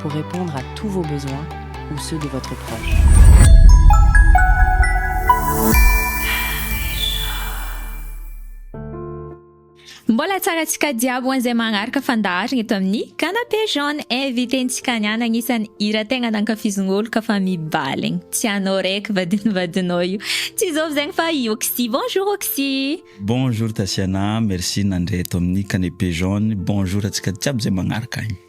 pour répondre à tous vos besoins ou ceux de votre proche. Mbola tsara tsika diabo ho an'izay magnaraka fandaharana eto amin'ny canapé jaune invitentsika ny ana agnisan'ny hira tegna nankafizin'olo ka fa mibaligny tsy anao raiky vadin'ny vadinao io tsy izao zegny fa i Oxy bonjour Oxy bonjour Tasiana merci nandre eto amin'ny canapé jaune bonjour antsika jiaby izay magnaraka agny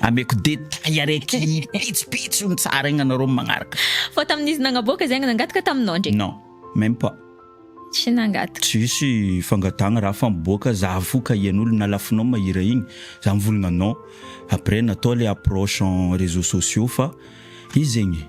Ameko détail araiky pitsopitso iny tsara iny anareo magnaraka. Fa tamin'izy nagnaboaka zay nangataka taminao ndre? Non, même pas. Tsy nangataka. Tsisy fangatagna raha fa miboaka za fo ka hian'olo nalafinao mahira igny za mivolagna non après natao le approche en réseaux sociaux fa izy zegny.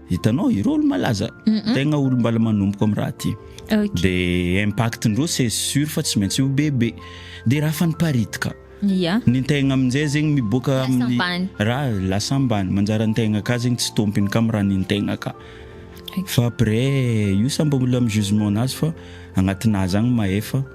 Hitanao ireo olo malaza tegna olo mbala manomboka am raha ty de impact ndreo c'est sur fa tsy maintsy ho bebe de raha fa niparitika ny tegna aminjay zegny miboaka aminy raha lasa ambany manjary antegna ka zegny tsy tompiny ka miraha ny tegna ka fa après io sa mbola am jugement nazy fa agnatinazy agny mahefa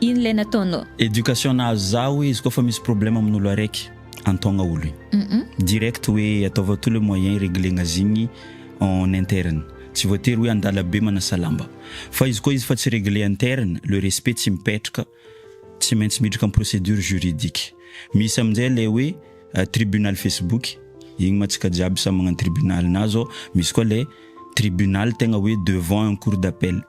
Ino ilay nataonao? Education nahazo za hoe izy koa fa misy problème amin'olo araiky antaogna olo igny direct hoe ataovao tout le moyen ireglegna zigny en interne tsy voatery hoe andala be manasa lamba fa izy koa izy fa tsy regle interne le respect tsy mipetraka tsy maintsy miditra am procedure juridique misy aminjay le hoe tribunal facebook igny ma tsika jiaby samy magnano tribunal na zao misy koa le tribunal tegna hoe devant un cour d'appel.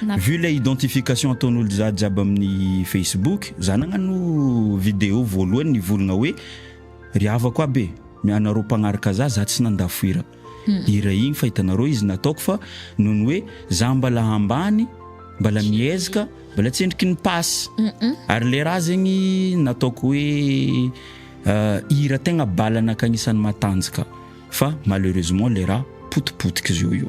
Vu ilay identification ataon'olo jiaby jiaby amin'ny facebook, za nagnano video voalohany nivolagna hoe, ry havako aby e, anareo mpagnaraka za, za tsy nanda foira hira igny fa hitanareo izy nataoko fa noho ny hoe za mbala ambany, mbala mihezaka, mbala tsendriky ny pass, ary le raha zegny nataoko hoe hira tegna bala anaka agnisan'ny matanjaka fa malheureusement le raha potipotika zio io.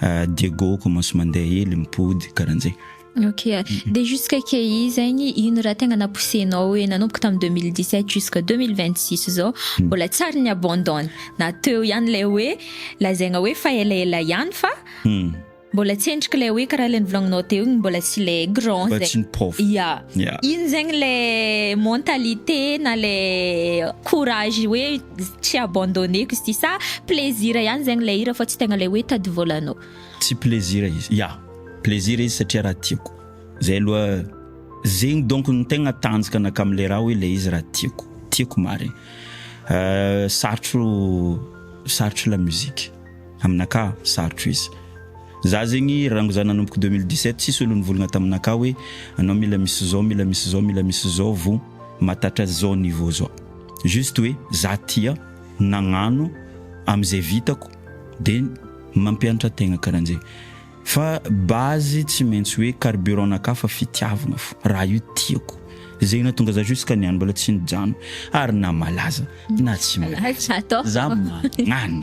Ah, Diego commence mandeha ely, mipody, karan'zay. Ok, de jusque key zegny ino raha tegna napoussenao hoe nanomboka tamin'ny 2017 jusque 2026 zao hmm. mbola tsy ary ny abandonne na teo ihany lay hoe lazaigna hoe fa elaela ihany fa hmm. mbola tsy endriky lay hoe karaha lay nivolagnanao teo igny mbola tsy lay grand zegny ya ino zegny lay mentalité na lay courage hoe tsy abandoneko izy ity sa plaisir ihany zegny ilay hira fa tsy tegna ilay hoe tady vôlanao. Tsy plaisir izy, ya plaisir izy satria raha tiako, zay aloha zegny donc no tegna tanjaka anakahy amle raha hoe ilay izy raha tiako, tiako marigny sarotro sarotro la musique aminakahy sarotro izy, za zegny rango za nanomboka deux mille dix sept tsisy olo nivôlagna taminakahy hoe anao mila misy zao mila misy zao mila misy zao vo mahatatra zao niveau zao. Juste hoe za tia nagnano amzay vitako de mampianatra tegna karanjay fa base tsy maintsy hoe carburant nakah fa fitiavagna fo raha io tiako zay natonga za jusqu'à niany mbola tsy nijano ary na malaza na tsy malaza za magnano.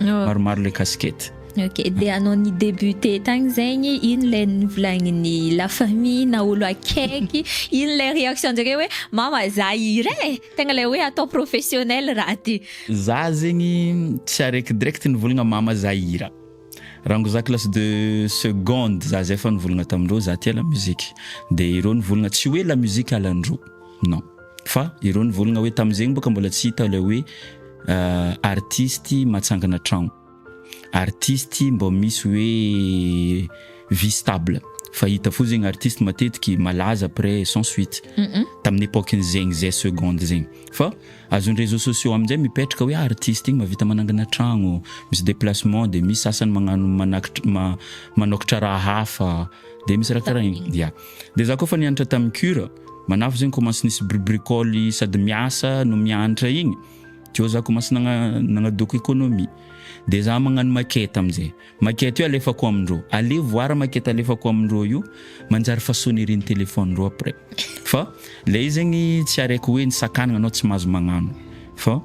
maromaro le casquette. Ok, dia anao ny débuté tagny zegny, ino ilay novolagnin'ny la famille na olo akaiky, ino ilay réaction-jareo hoe mama za hira e, tegna ilay hoe atao professionnel raha ty. Za zegny tsy araiky direct nivolagna mama za hira, raha ngo za classe de seconde za zay efa nivolagna tamindreo za tia la musique, de ireo nivolagna tsy hoe la musique halandro, non. Fa ireo nivolagna hoe tamin'izegny boka mbola tsy hita ilay hoe artistes matsangana tragno, artistes mbô misy hoe vie stable fa hita fo zegny artistes matetiky malaza après sans suite tamin'ny epoque-ny zegny zay seconde zegny fa azon'ny réseaux sociaux amin'izay mipetraka hoe artistes igny mahavita manangana tragno, misy déplacement dia misy sasany magnano manakitra ma- manôkatra raha hafa dia misy raha karaha igny ya. Dia za koa efa nianatra tamin'ny cure, manafo zegny koa mantsy nisy bribricole sady miasa no mianatra igny, teo za koa mantsy nagnadoko economie. Dia za magnano maquette amin'izay, maquette io alefako amindreo, aleha voara maquette alefako amindreo io, manjary efa sonnerie ny téléphone ndreo après, fa ilay izy zegny tsy araiko hoe nisakana anao tsy mahazo magnano fa.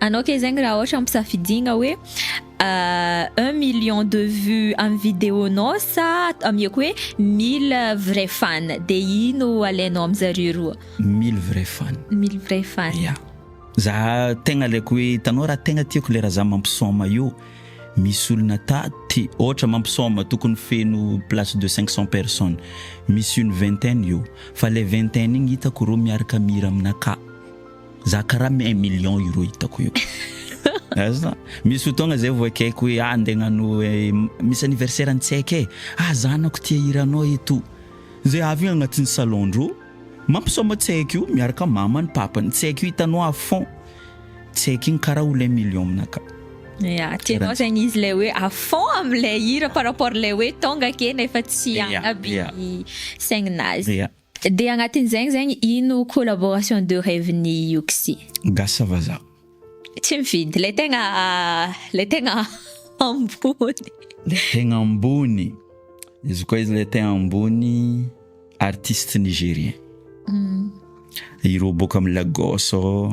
Anao kay zegny raha ohatra ampisafidiagna hoe un million de vue amin'ny video nao sa amiako hoe mille vrai fan de ino alainao amin zareo roa? Mille vrai fan. Mille vrai fan. Ya. Za tegna alaiko hoe hitanao raha tegna tiako le raha za mampisôma io misy olona taty ohatra mampisôma tokony feno place de cinq cent personnes misy une vingtaine eo fa le vingtaine igny hitako reo miaraka mihira aminakahy. Za karaha mi un million euro hitako io azona misy fotoagna zay vao ekeko hoe ah ndeha agnano misy anniversaire ny tsy haiko e ah zanako tia hiranao eto zay avy eo agnatin'ny salon-dro mampisaoma tsy haiko io miaraka mamany papany tsy haiko io hitanao à fond tsy haiko igny karaha ho lay million aminakah Ya, tianao zegny izy ilay hoe à fond amin'ilay hira par rapport ilay hoe tonga ake nefa tsy Ya, hanaby ya. ny saigninazy. ya Dia agnatin'izegny zegny ino collaboration de reve n'i Yoxi? Gasy vazaha. Tsy mifidy, lay tegna lay tegna ambony. Lay tegna ambony, izy koa izy lay tegna ambony artiste nigérien. Ireo boaka am Lagos ao.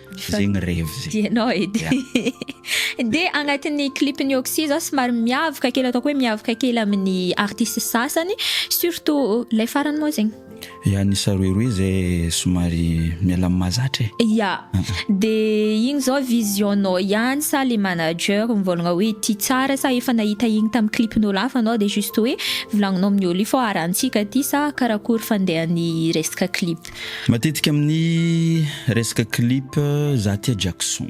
zegny revy zegny. Dia ianao edy. Dia agnatin'ny clip-n'i Oxy zao somary miavaka kely ataoko hoe miavaka kely amin'ny artiste sasany surtout ilay farany moa zegny. Ya ny saroeroe zay somary miala amin'ny mahazatra e. Ya. Dia igny zao vision-nao ihany sa le manager mivôlagna hoe ity tsara sa efa nahita igny tamin'ny clip-n'ôlo hafa anao dia juste hoe volagninao amin'ny ôlo io fa harantsika ity sa karakory fandehan'ny resaka clip. Matetika amin'ny resaka clip za tia Jackson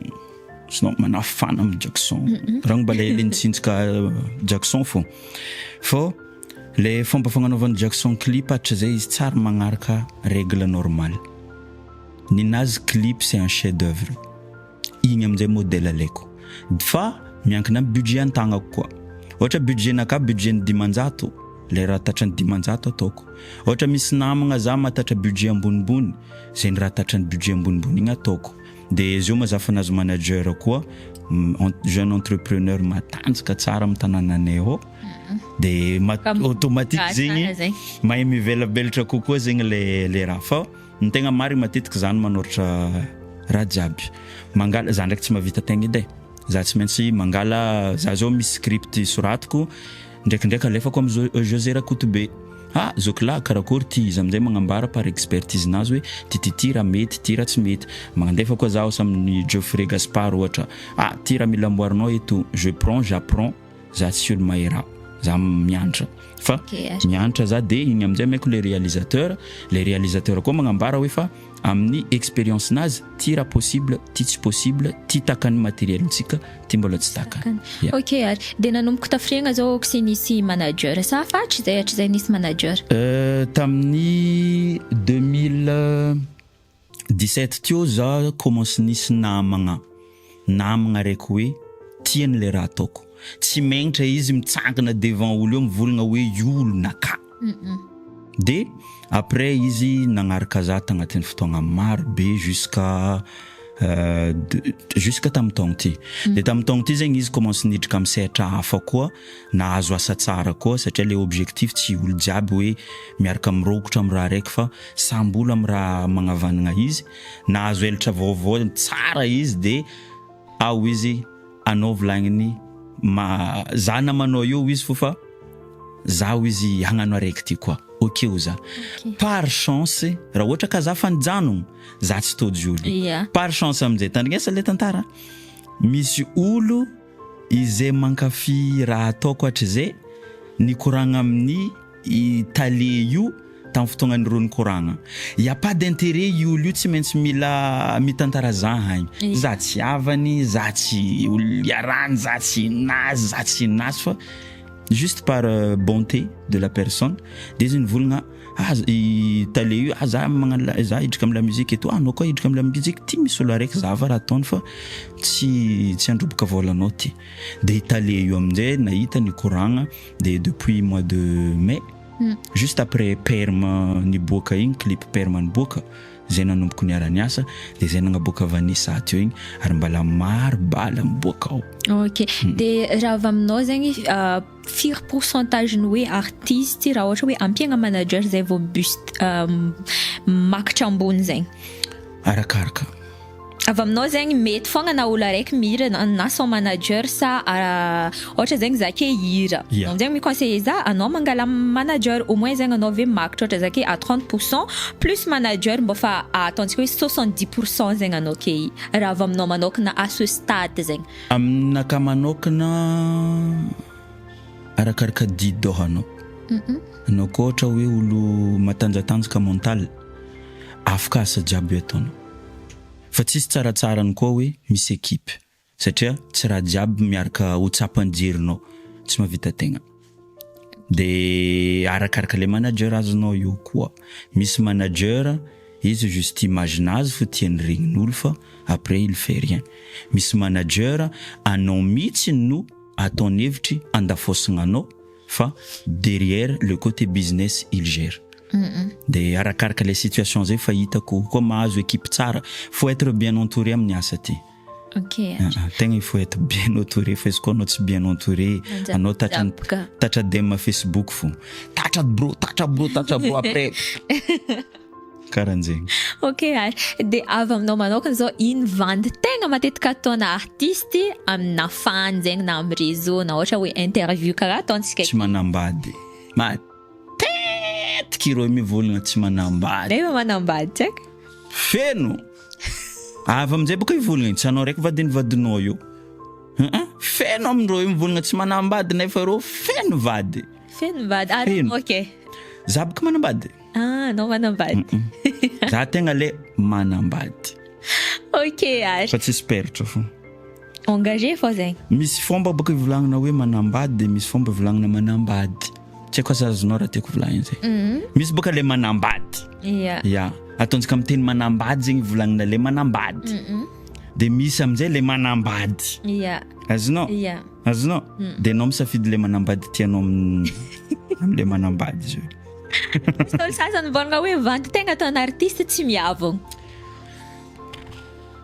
sinon manafana amin'ny Jackson raha mba ilay ilay nitsinjika Jackson fo fô ilay fomba fagnanaovan'ny Jackson clip hatrizay izy tsy ary magnaraka règle normale ninazy clip c'est un chef d'oeuvre Igny amin'izay modèle alaiko. Fa miankina amin'ny budget antagnako koa. Ohatra budget-nakà budget-n'ny dimanjato, ilay raha tratran'ny dimanjato ataoko. Ohatra misy namagna za mahatatra budget ambonimbony, zay ny raha tratran'ny budget ambonimbony igny ataoko. Dia zao moa za fa nahazo manager koa, jeune entrepreneur matanjaka tsara amin'ny tanànanay ao, dia automatique zegny mahay mivelabelatra kokoa zegny ilay raha. Fa. Ny tegna marigny matetika za no manoratra raha jiaby. Mangala, za ndraiky tsy mahavita tegna edy e. Za tsy maintsy mangala, za zao misy script soratiko, ndraikindraiky alefako am Jo- Jose Rakotobe, ha zokilahy karakôry ty, izy am'zay magnambara par expertise-nazy hoe ty ty ty raha mety, ty raha tsy mety. Magnandefa koa zaho asa amin'i Geoffrey Gaspard ohatra, ah ty raha mila amboarinao eto, je prends, j'apprends. Za tsy olo mahera, za miantra fa miantra za de igny amizay maiko le realisateur, le realisateur koa magnambara hoe fa amin'ny experience nazy ty raha possible, ty tsy possible, ty takan'ny materiel ntsika, ty mbola tsy takany. Ya. Ok ary, de nanomboka tafiriagna zao aoka sy nisy manager sa afa hatrizay hatrizay nisy manager? Euh, tamin'ny deux mille dix-sept teo za commence nisy namagna namagna raiky hoe tia an'le raha ataoko, tsy mengitra izy mitsangana devant olo eo mivolagna hoe io olona ka! de après izy nagnaraka za tagnatin'ny fotoagna maro be jusqu'à jusqu'à tamin'ny taogno ty, de tamin'ny taogno ty zegny izy commence niditra amin'ny sehatra hafa koa, Nahazo asa tsara koa satria le objectif tsy olo jiaby hoe miarka mirokotra am raha raiky fa samby olo am raha magnavanagna izy, nahazo elatra vaovao tsara izy de ao izy anao volagniny ma za namanao eo izy fo fa zaho izy hagnano araiky ty koa ok o za par chance raha ohatra ka za fa nijanogno za tsy tojo olo par chance amizay tandrignesa le tantara misy olo Izay mankafy raha ataoko hatrizay nikoragna amin'ny i tale io tamin'ny fotoagnan'ireo nikoragna. Y a pas d'intérêt io olo io tsy maintsy mila mitantara zahagny. Za tsy havany, za tsy olo iarahany, za tsy inazy, za tsy inazy fa juste par bonté de la personne dia izy nivolagna Aza i tale io ah za magnano la za hidrika am la musique eto ah anao koa hidrika am la musique ty misy olo araiky zava raha ataony fa tsy tsy handroboka vôlanao ty de i tale io am'jay nahita nikoragna de depuis mois de mai juste après perm niboaka igny clip perm niboaka zay nanomboka niara niasa de zay nagnaboaka vanessa teo igny ary mbala maro bala miboaka ao ok de raha avy aminao zegny firy pourcentage ny hoe artiste raha ohatra hoe ampiagna manager zay vao buste makitra ambony zegny? Arakaraka. Avy aminao zegny mety fogna na olo araiky mihira na son manager sa ohatra zegny za ke hihira yeah. anao zegny mi-conseiller za anao mangala manager au moins zegny anao ve makitra ohatra za ke à 30 pourcent plus manager mbô fa ataontsika hoe 70 pourcent zegny anao ke raha avy aminao manokana à ce stade zegny Amin'ny naka manokana arakaraka didy dôha anao. Anao koa ohatra hoe olo matanjatanjaka mental, afaka asa jiaby ataonao. Fa tsisy tsaratsarany koa hoe misy ekipe satria tsy raha jiaby miaraka ho tsapan'ny jerinao tsy mahavita tegna. de arakaraka le manager azonao eo koa misy manager izy juste imagine azy fo tiany regnin'olo fa après il fait rien misy manager anao mitsy no ataony hevitry andafosina anao fa derrière le cote business il gère de arakaraka le situation zay fa hitako koa mahazo equipe tsara faut etre bien entouré amin'ny asa ty Ok ary. Ah tegna il faut être bien autoré fa izy koa anao tsy bien entouré anao tatra tatra dem facebook fo tatra bro tatra bro tatra bro après karanjegny. Ok ary de avy aminao manokana zao ino vandy tegna matetika ataona artiste amina fan zegny na am réseau na ohatra hoe interview karaha ataontsika aty. Tsy manambady. Tetika ireo mi volana tsy manambady. Nefa manambady tsy aiko. Feno! Avy amin'izay baka io volana io, tsy anao raiky vadin'ny vadinao io. Aa feno amin'ireo mi volana tsy manambady nefa ireo feno vady. Feno vady, ary Feno. anao kay? Za baka manambady. Ah, anao manambady. Za tegna le manambady Ok ary. fa tsisy peratra fô. Engagé fao zay. Misy fomba bôka ivolagnana hoe manambady de misy fomba ivolagnana manambady. Tsy haiko aza azonao raha tiako volagnina izay. Misy bôka le manambady. Ia. Ia. Ataontsika amin'ny teny manambady zegny ivolagnana le manambady. De misy amin'izay le manambady. Ia. Azonao? Ia. Azonao? De anao misafidy le manambady tianao amin'ny am'le manambady zay. Misy olo sasany mivôlagna hoe vandy tegna ataon'artiste tsy miavogno.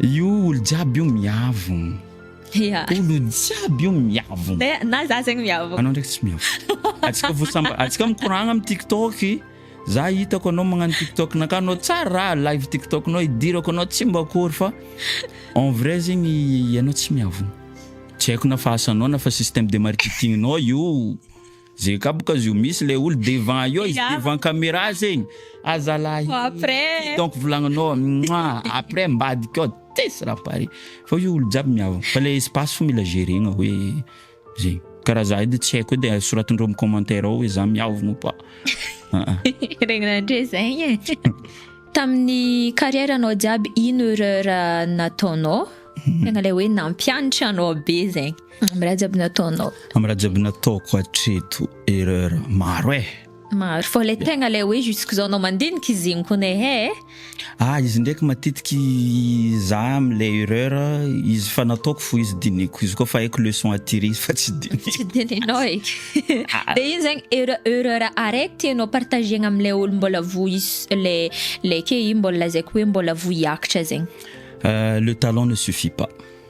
Io olo jiaby io miavogno. Ya. Olo jiaby io miavogno. Te- Na za zegny miavogno. Anao ndraiky tsy miavogno. Atsika vo samba, atsika mikoragna am tiktok. Za hitako anao magnano tiktok nakah anao tsara raha live tiktok nao idirako anao tsy mba akory fa en vrai zegny ianao tsy miavogno. Tsy haiko na fahasanao na fa système de marketing nao io. Ze kapoka zio misy le olo devant io izy devant camera zegny ah zalahy après donc volagninao moah après ambadika ao tsisy raha pare fa io olo jiaby miavona fa le espace fo mila geregna hoe zegny karaha za edy tsy haiko edy soratindreo am commentaire ao hoe za miavona ou pas aa regny nandre zegny e tamin'ny carrière anao jiaby ino erreur nataonao tegna le hoe nampianatra anao be zegny Amin'ny raha jiaby nataonao. Amin'ny raha jiaby nataoko hatreto erreur maro eh. Maro fa ilay tegna ilay hoe jusqu'izao anao mandinika izy igny kony eh. Ah izy ndraiky matetiky za amin'ilay erreur izy fa nataoko fo izy diniko izy koa fa haiko leçon à tirer izy fa tsy diniko. Tsy dininao eky. Dia iny zegny erreur erreur araiky tianao partager-na amin'ilay olo mbola voa izy ilay ilay ke iny mbola lazaiko hoe mbola voa hiakatra zegny. Le talent ne suffit pas.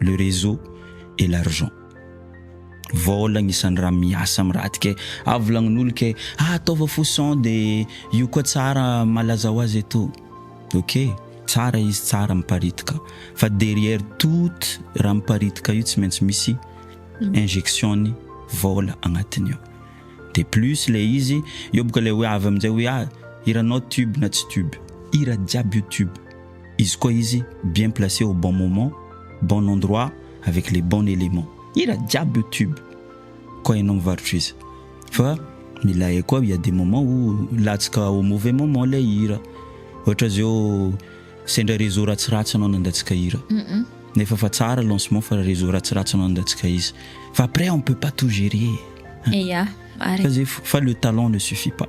le réseau et l'argent vôla agnisan'ny raha miasa amin'ny raha ty kay avy volagnin'olo kay ah ataova fo son de io koa tsara malaza ho azy eto ok tsara izy tsara miparitika fa derrière tout raha miparitika io tsy maintsy misy injection-ny vôla agnatiny ao de plus le izy eo boka le hoe avy amin'izay hoe ah hiranao tube na tsy tube hira jiaby io tube Izy koa izy bien placé au bon moment, bon endroit avec les bon éléments. Hira jiaby io tube koa ianao mivarotra izy fa mila hay koa il ya des moments où latsaka au mauvais moment ilay hira. Ohatra zao sendra réseau ratsiratsy anao nandatsika hira nefa efa tsara lancement fa réseau ratsiratsy anao nandatsika izy fa après on peut pas tout gérer hein. Fa le talent ne suffit pas.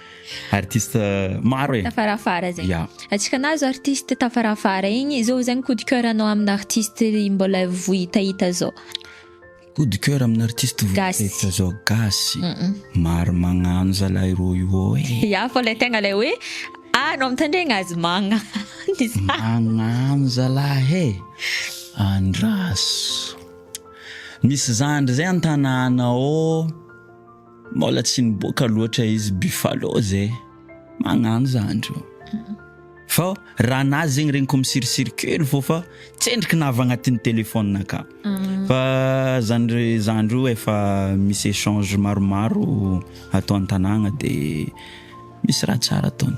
artiste maro e tafarafara zay ya atsika nahazo artiste tafarafara igny zao zagny coup de coeur anao amina artiste mbola vohitahita zao coup de coeur amina artiste vohitahita zao gasy maro magnano zalahy rô io ô e ya fa le tegna le hoe anao mitandregna azy magnano izy magnano zalahy e andraso misy zandry zay antanana ao Mbola tsy niboaka loatra izy buffalo zay magnano zandry ô. Fa raha nazy zegny regniko misirisiry kely fô fa tsendriky navy agnatin'ny téléphone akao. Fa zandry zandry io efa misy échange maromaro ato an-tanàgna de misy raha tsara ataony.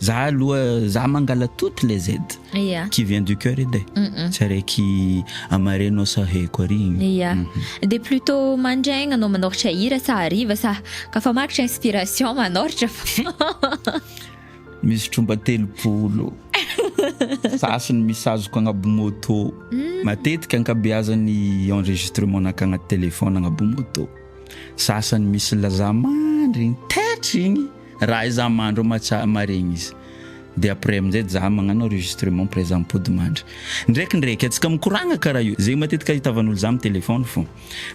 Za aloha za mangala toutes les aides yeah. qui vient du cœur edy e mm tsy araiky amareno sa heko ary yeah. mm -hmm. de plutôt mandraigna anao manoritra hira sa hariva sa ka fa maritra inspiration manoritra fa misy tromba telopolo sasiny misy azoko agnaby moto mm. matetika ankabeazany enregistrement naka agnaty téléphone agnaby moto sasany misy lazamandry tetry igny Raha izaho mandro amatsa maregny izy de après amin'izay zah magnano enregistrement après zah mipody mandry. Ndrekindraiky atsika mikoragna karaha io, zegny matetika ahitavan'olo zah am téléphone fô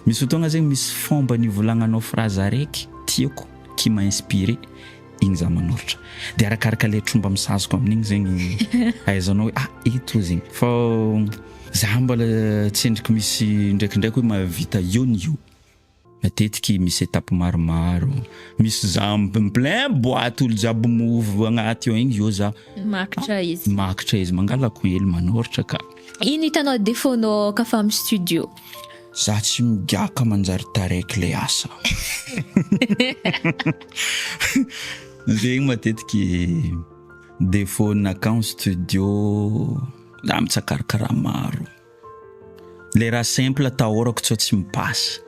misy fotoagna zegny misy fomba nivolagnanao phrase araiky tiako qui m'a inspiré igny zah manoratra de arakaraka le tromba misazoko amin'igny zegny ahaizanao hoe ah ito zegny fô zah mbola tsendriky misy ndrekindraiky hoe mahavita io ny io. Matetiky misy etape maromaro. Misy za en plein boite olo jiaby move agnaty ao igny zao za. Makitra izy. Makitra izy, mangalako hely manoratra ka. Ino hitanao defaut nao ka fa am studio? Za tsy migaka manjary taraiky le asa. Zegny matetiky defaut nakam studio za mitsakar kara maro. Le raha simple tahorako tsao tsy mipasy.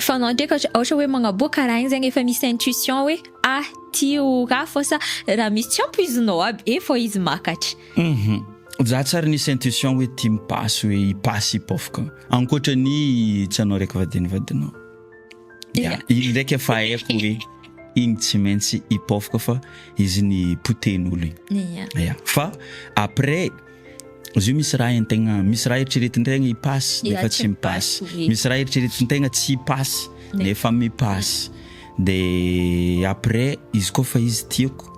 Fa anao ndreka ohatra hoe magnaboaka raha igny zegny efa misy intuition hoe ah ty ho raha fô sa raha misy tsy ampoizinao aby e fô izy makatra. Za tsy ary nisy intuition hoe ty mipasy hoe hipasy hipôfoko ankoatra ny tsy anao raiky vadin'ny vadinao. Ya, iny ndraika efa haiko hoe iny tsy maintsy hipaofoka fa izy ny potehin'olo iny. Ya. Ya, fa après izy io misy raha entegna, misy raha eritreretin-tegna hipasy Ya, nefa tsy tsy mipasy, mipasy, oui. misy raha eritreretin-tegna tsy hipasy Ne- nefa mipasy. De après izy koa fa izy tiako,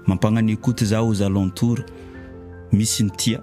mampagnaniakoty za aux alentours, misy ny tia,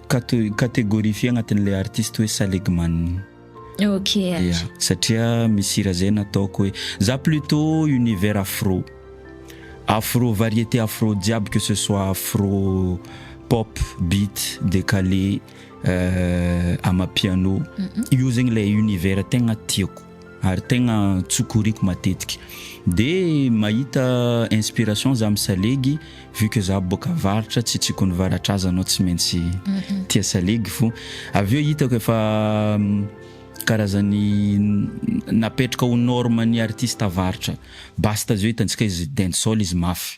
Kate- catégorie fy agnatin'ilay artiste hoe Salegman. Ok. Yeah, satria misy hira zay nataoko hoe za plutot univers afro, afro variété afro jiaby que ce soit afro pop, beat, décalé, euh, amapiano, io zegny le univers tegna tiako. ary tegna tsokoriako matetika de mahita inspiration za misalegy vu que za boka avaratra tsy tsikony varatra aza anao tsy maintsy tia salegy fo avy eo hitako efa karazany napetraka ho norme ny artiste avaratra basta zao hitantsika izy dancehall izy mafy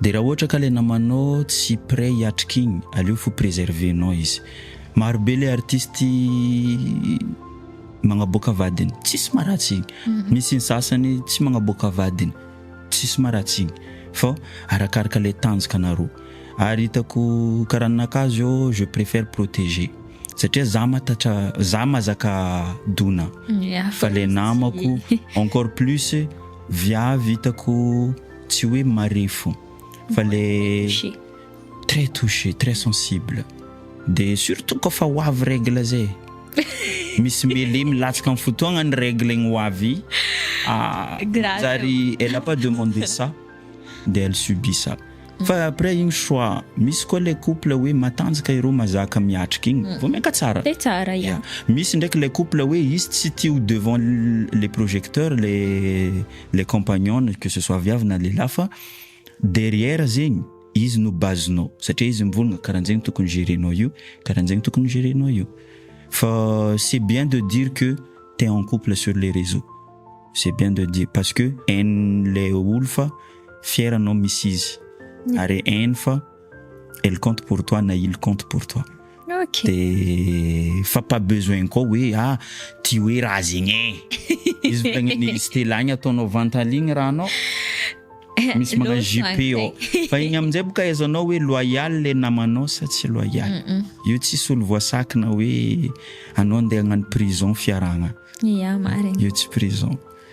De raha ohatra ka le namanao tsy près hiatrika igny, aleo fo preserver nao izy. Maro be le artiste magnaboaka vadiny, tsisy maharatsy igny. Misy ny sasany tsy magnaboaka vadiny, tsisy maharatsy igny. Fô arakaraka le tanjaka anarô. Ary hitako karaha ninakah zô je préfère protéger. Satria za mahatatra, za mahazaka dona. Fa le namako encore plus viavy hitako Tsy hoe marefo fa le très touché, très sensible de surtout koa fa ho avy règle zay misy mele milatsaka amin'ny fotoagna ny règle igny ho avy zary elle a pas demandé ça de elle subit ça fa après igny choix misy koa le couple hoe matanjaka ireo mazaka miatrika igny mm. vao miaka tsara de tsara ya misy ndraiky le couple hoe izy tsy tia ho devant le projecteur le le compagnon que ce soit viavy na lehilahy fa derrière zegny izy no base-nao satria izy mivolagna karanjegny tokony gerenao io karanjegny tokony gerenao io fa c'est bien de dire que t'es en couple sur les réseaux c'est bien de dire parce que hain'le olo fa fier anao misy izy ary hainy fa elle compte pour toi na il compte pour toi Ok. dia fa pas besoin koa hoe ah tia hoe raha zegny e izy volagniny Stella igny ataonao vantale igny raha anao misy magnano Loso JP any ao zay. fa igny amin'izay boka ahaizanao hoe loyal le namanao sa tsy loyal Mm-mm. io tsisy olo voasakina hoe anao andeha hagnano prison fiarahagna Ya, marina. io tsy prison